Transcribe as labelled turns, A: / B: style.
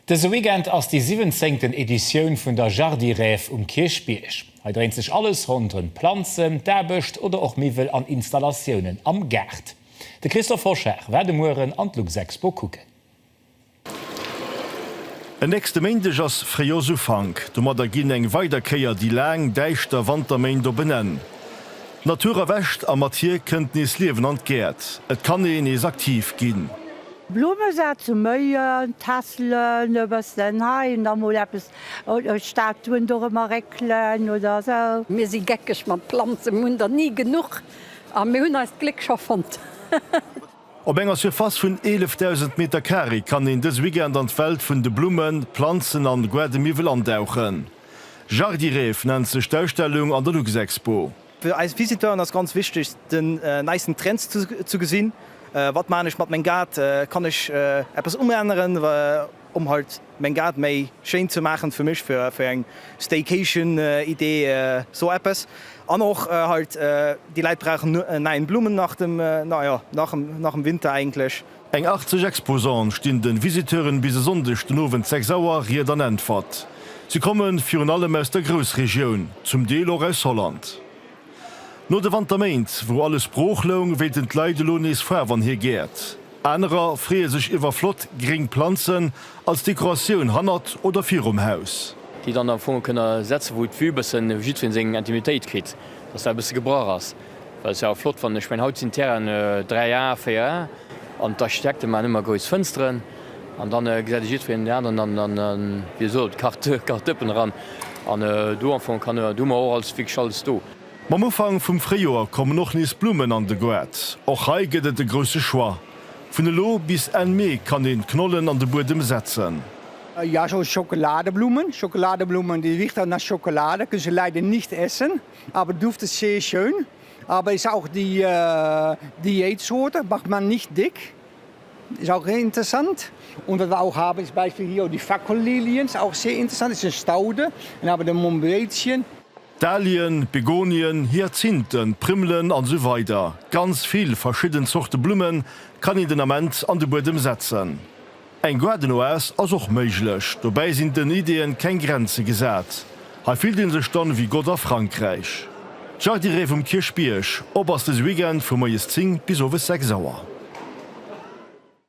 A: Dëse Weekend ass déi siwwenzéngten Editioun vun der Jardiräf um Kierchbierg. Hei dréint sech alles ronderëm d'Planzen, d'Aarbecht oder och Miwwel an Installatiounen am Gaart. De Christophe Hoschar war de Mueren an d'Luxexpo kucken.
B: En nächste Méindeg ass Fréijoersufank. Domadder ginn eng weider Kéier déi laang, däischter Wanterméint op en Enn. D'Natur erwächt a mat hir kënnt nees Liewen an d'Gäert. Et kann ee nees aktiv ginn. Blumme sat
C: zu méien, Tässelen e bëssen hei an da mol eppes, Statuen dorëmmer réckelen oder sou. Mir si geckeg mat
D: Planzen, mir hunn der ni genuch a mir hunn eist Gléck scho fonnt.
B: Op enger Surface vun 11.000 Meter Carré kann een dës Weekend an d'Welt vun de Blummen, Planzen an Guardemiwwel andauchen. Jardiref nennt sech d'Ausstellung an der Luxexpo. Fir eis Visiteuren
E: ass ganz wichteg den neisten Trends ze gesinn, wat maachen ech mat meng Gaart, kann ech eppes umänneren um halt meng Gaart méi schéin ze maachen fir mech, fir eng Staycation Idee sou eppes an och halt déi Läit brauchen en neien Blumenarten nach dem Winter eigentlech. Eng 80
B: Exposante stinn de Visiteuren bis e Sonndeg den Owend 6 Auer Ried an Äntwert. Si kommen virun allem aus der Groussregioun, zum Deel och aus Holland. No de Wanterméint, wou alles brooch loung, wéilten d'Leit elo nees Faarf an hir Gäert. Anerer freeë sech iwwer flott gréng Planzen als Dekoratioun hannert oder virum Haus. Déi dann am Fong
F: kënne setzen, wou d'Vue bëssen jiddwereen seng Intimitéit kritt, dass dat e bësse gebrach ass. Well se awer flott fannen. Ech mengen haut sinn d'Terrainen 3A, 4A an d'Architekte maachen ëmmer grouss Fënsteren an dann gesäit e jiddwereen deen aneren an dann, wéi soll et, kacht kacht d'Dëppen eran an do am Fong kann hu mer och alles wierklech alles do. Mam Ufank vum
B: Fréijoer kommen och nees Blummen an de Goart. Och hei gëtt et e grousse Choix. Vun elo bis Enn Mee kann een d'Knollen an de Buedem setzen. Jo,
G: Schockeladeblummen, Schockeladeblummen, die Wichteln nach Schokolade, kënne se leider nicht essen. Aber du duft es sehr schön, aber ist auch die Diätsorte, macht man nicht dick, ist auch interessant. Und was wir auch haben ist Beispiel hier die Fackelilien, ist auch sehr interessant, ist eine Staude. Dann haben wir den Mombrätchen. Dahlien,
B: Begonien, Hyazinthen, Primmelen an esou weider Ganz vill verschidden Zorte Blummen kann een den Ament an de Buedem setzen. Eng Garden-Oase ass och méiglech, dobäi sinn den Ideeën keng Grenze gesat. Hei fillt een sech dann ewéi Gott a Frankräich. D'Jardirée vum Kierchbierg, op ass dëse Weekend vu moies 10 bis owes 6 Auer.